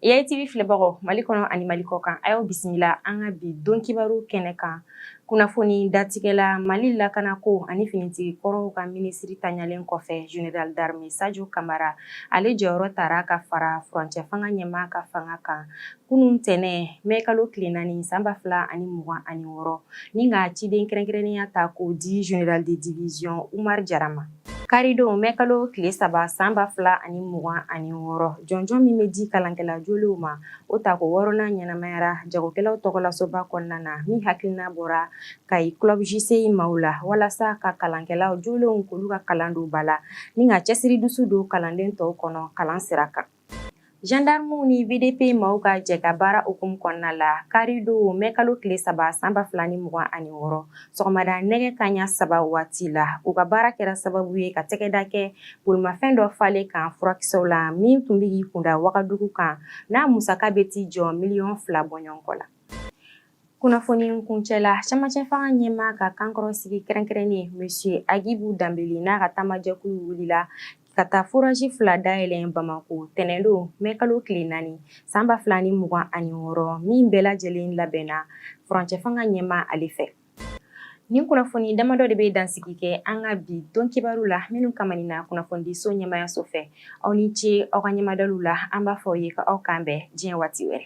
AITV filɛbagaw Mali kɔnɔ ani Mali kɔkan a y'aw bisimila an ka bi don kibaru kɛnɛ kan kunnafoni datigɛla Mali lakanako ani finitigi kɔrɔw ka minisiri tanyalen kɔfɛ Général d'armée Sajo Kamara ale jɔyɔrɔ tara ka fara furancɛ fanga ɲɛmaa ka fanga kan kunun tɛnɛn mai kalo tile naani san ba fila ani mugan ani wɔɔrɔ ni ka ciden kɛrɛnkɛrɛnnenya ta k'o di Général de division Umar Jara ma. Karidon mɛ kalo tile saba san ba fila ani mugan ani wɔɔrɔ jɔnjɔn min bɛ di kalankɛla jolenw ma o ta ko wɔɔrɔnan ɲɛnamayara jagokɛlaw tɔgɔlasoba kɔnɔna na min hakilina bɔra Kayi club JCI maaw la walasa ka kalankɛla jolenw k'olu ka kalan don ba la ni ka cɛsiri dusu don kalanden tɔw kɔnɔ kalan sira kan Jandarmuw ni VDP maaw ka jɛ ka baara hukumu kɔnɔna la, karidon mɛ kalo tile saba san ba fila ni mugan ani wɔɔrɔ sɔgɔmada nɛgɛ kanɲɛ saba waati la, u ka baara kɛra sababu ye ka tɛgɛda kɛ bolimafɛn dɔ falen kan furakisɛw la min tun bɛ k'i kunda Wagadugu kan n'a musaka bɛ t'i jɔ miliyɔn fila bɔɲɔgɔnko la. Kunnafoni kuncɛla cɛmancɛ fanga ɲɛmaa ka kankɔrɔsigi kɛrɛnkɛrɛnnen monsieur Agibu Danbele n'a ka taamajɛkulu wulila ka taa forage 2 dayɛlɛ Bamako tɛnɛn don mai kalo tile 4 san 2026 min bɛɛ lajɛlen labɛnna furancɛ fanga ɲɛmaa ale fɛ. Nin kunnafoni damadɔ de bɛ dansigi kɛ an ka bi don kibaru la minnu kamaninna kunnafonidiso ɲɛmaayaso fɛ. aw ni ce aw ka ɲɛmadaliw la an b'a fɔ aw ye ka aw k'an bɛn diɲɛ waati wɛrɛ